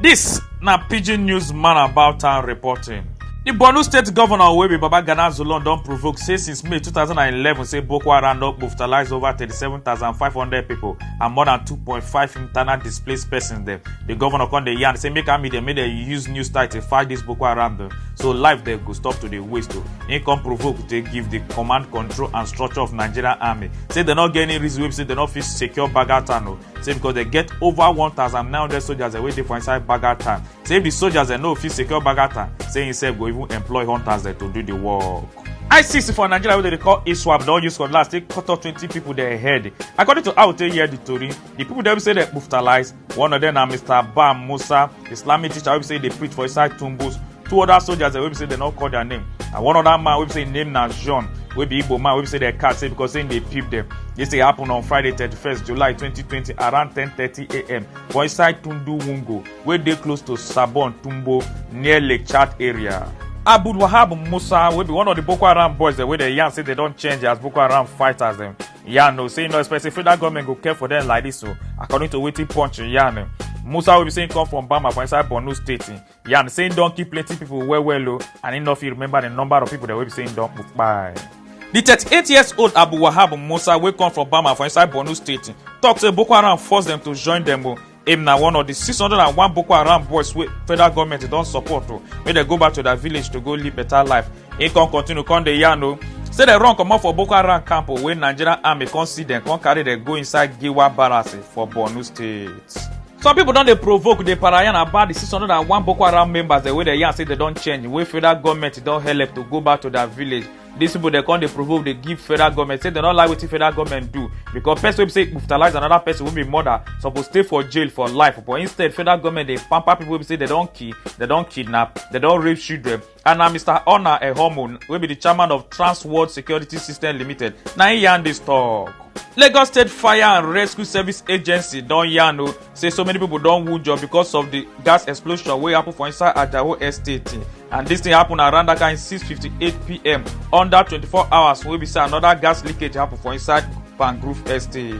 This na pidgin news man about town reporting. di borno state govnor wey be babagana zulon don provoke say since may 2011 say boko haram don brutalize over 37500 pipo and more than 2.5 internal displaced persons dem di govnor come dey yarn say make army dem make dem use new style to fight dis boko haram dem so life dem go stop to dey waste o im come provoke dey give di command control and structure of nigerian army say dem no get any reason wey be say dem no fit secure baga town o say because dem get over 1900 soldiers wey dey for inside baga town say if di soldiers dem no fit secure baga town say himself go even employ hunters dem to do di work. isis for nigeria wey dem dey call iswap don use cutlass take cut off twenty pipo dem head according to how we take hear di tori di pipo dem say dem brutalize one of dem na mr bam musa islamic teacher wey be say e dey preach for inside tumbus two other soldiers dem wey be say dem no call their name and one other man wey be say im name na john wey be igbo man wey be say dem catch say because say im dey peep dem dis thing happen on friday thirty-first july twenty twenty around ten thirty am for inside tundu wungo wey dey close to sabon tumbo near lake chad area. abdul wahab musa wey be one of the boko haram boys dem wey dem yarn say dem don change as boko haram fighters dem yarn o say e no expect say federal government go care for dem like dis o according to wetin punch yarn musa wey be say im come from bama for inside borno state yarn say im don kill plenty pipo well well o and im no fit remember di number of pipo dem wey be say im don kpai. di 38 years old abu wahab musa wey come from bama for inside borno state tok say boko haram force dem to join dem o im na one of di 601 boko haram boys wey federal goment don support o make dem go back to dia village to go live beta life im con continue con dey yarn o say dem run comot for boko haram camp o wey nigerian army con see dem con carry dem go inside giwa barracks for borno state. some pipo don dey provoke dey parayan about di 601 boko haram members dem wey dem yarn say dem don change wey federal goment don helep to go back to dia village dis pipo dem come dey provoke dey give federal government say dem no like wetin federal government do because person wey be say brutalize another person wey be murder suppose stay for jail for life but instead federal government dey pamper people wey be say dem don kill dem don kidnap dem don rape children and na mr ona ehomo wey be the chairman of trans world security system limited na im yarn dis tok. lagos state fire and rescue service agency don yarn o say so many pipo don wunjure becos of di gas explosion wey happun for inside ajawo estate and dis tin happun around dat kain 6:58pm under 24 hours wey be say anoda gas leakage happun for inside pangrove estate.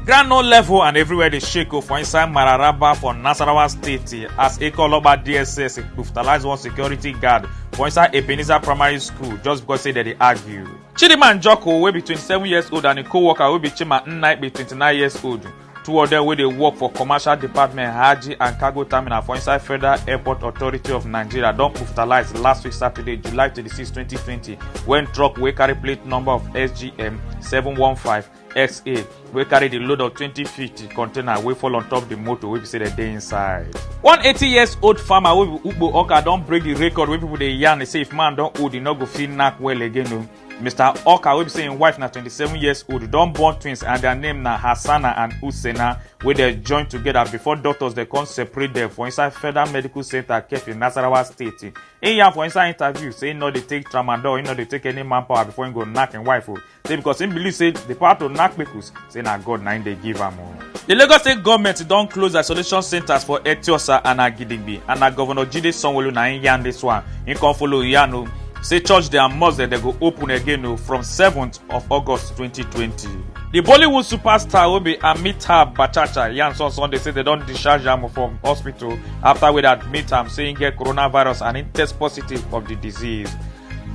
ground no level and everywhere dey shake o for inside mararaba for nasarawa state as ekeoloba dss brutalize one security guard for inside ebenezer primary school just because say dem dey argue. chidinma njoku wey be 27 years old and im co-worker wey be chima nnaikpe 29 years old two of dem wey dey work for commercial department hajji and cargo terminal for inside federal airport authority of nigeria don brutalize last week saturday july 26 2020 wen truck wey carry plate number of sgm 715 xa wey carry di load of 2050 container wey fall on top di motor wey be say dem dey inside. one 80 years old farmer wey be ugbo oka don break di record wey pipo dey yarn say if man don old e no go fit knack well again o mr oka wey be say im wife na 27 years old don born twins and dia name na hassana and hussaina wey dem join togeda before doctors dem come separate dem for inside federal medical centre kefi nasarawa state im yarn for inside interview say im no dey take tramadol im no dey take any manpower before im go knack im wife o say because im believe say di power to knack pikus say na god na im dey give am o. di lagos state goment don close isolation centres for etiosa and agidingbi and na govnor jide sanwoolu na im yarn dis one im come follow yarn o say church dem and mosque dem go open again o from 7th of august 2020. di bollywood superstar wey be amitabh bachchan yarn on sunday say dem don discharge am from hospital afta wey dem admit am say im get coronavirus and im test positive of di disease.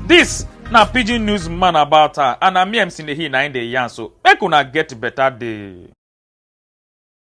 dis na pidgin news man about her and na me mc nehi na im dey yarn so make una get better day.